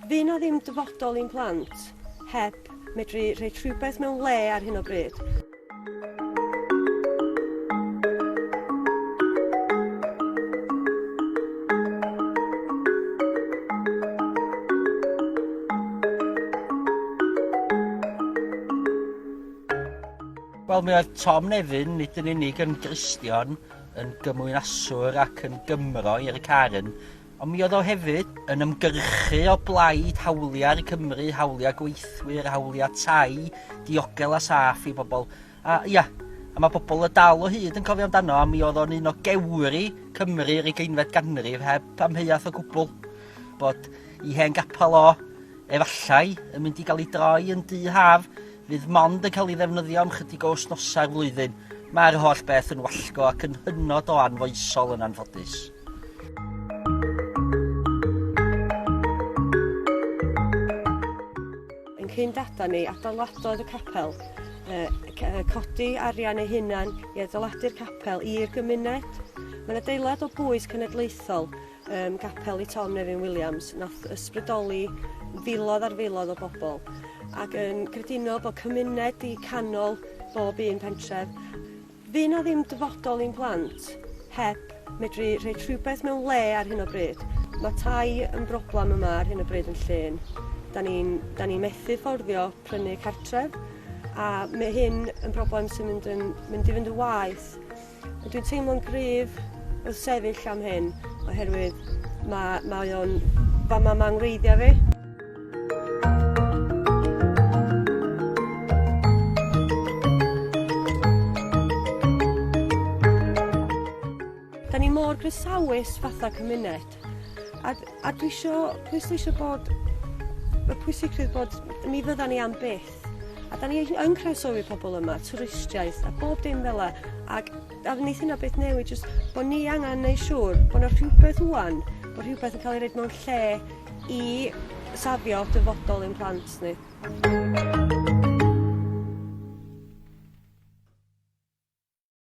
Fydd 'na ddim dyfodol i'n plant heb medru rhoi rhywbeth mewn le ar hyn o bryd. Wel, mi oedd Tom Nefyn, nid yn unig yn Gristion, yn gymwynaswr ac yn Gymro i Eric Aaron, Ond mi oedd o hefyd yn ymgyrchu o blaid hawliau Cymru, hawliau gweithwyr, hawliau tai, diogel a saff i bobl. A ia, a mae pobl y dal o hyd yn cofio amdano, a mi oedd o'n un o gewri Cymru yr ugeinfed ganrif heb amheuaeth o gwbl bod i hen gapel o efallai yn mynd i gael ei droi yn du haf fydd mond yn cael ei ddefnyddio am chydig o wsnosau'r flwyddyn. Mae'r holl beth yn wallgo ac yn hynod o anfoesol yn anffodus. Yn cyn data ni, adeiladodd y capel uh, codi arian ei hunan i adeiladu'r capel i'r gymuned. Mae'n adeilad o bwys cenedlaethol um, gapel i Tom Nevin Williams, nath ysbrydoli filodd ar filodd o bobl, ac yn creduno bod cymuned i canol bob un pentref. Fydd 'na ddim dyfodol i'n plant heb medru rhoi rhywbeth mewn le ar hyn o bryd. Mae tai yn broblem yma ar hyn o bryd yn Llŷn. Da ni'n da ni methu fforddio prynu cartref a mae hyn yn broblem sy'n mynd, yn, mynd i fynd yn waeth. Dwi'n teimlo'n gryf wrth sefyll am hyn oherwydd mae, mae o'n... Fama mae ngwreiddiau fi. Da ni mor grisawus fatha cymuned. A, a dwi eisiau pwysleisio bod y pwysigrwydd bod ni fydda ni am byth. A da ni yn croesofi pobl yma, twristiaeth a bob dim fel la. Ac a wneud hynna beth newid, jyst bod ni angen neu siŵr bod yna rhywbeth wwan, bod rhywbeth yn cael ei wneud mewn lle i safio dyfodol ein plant ni.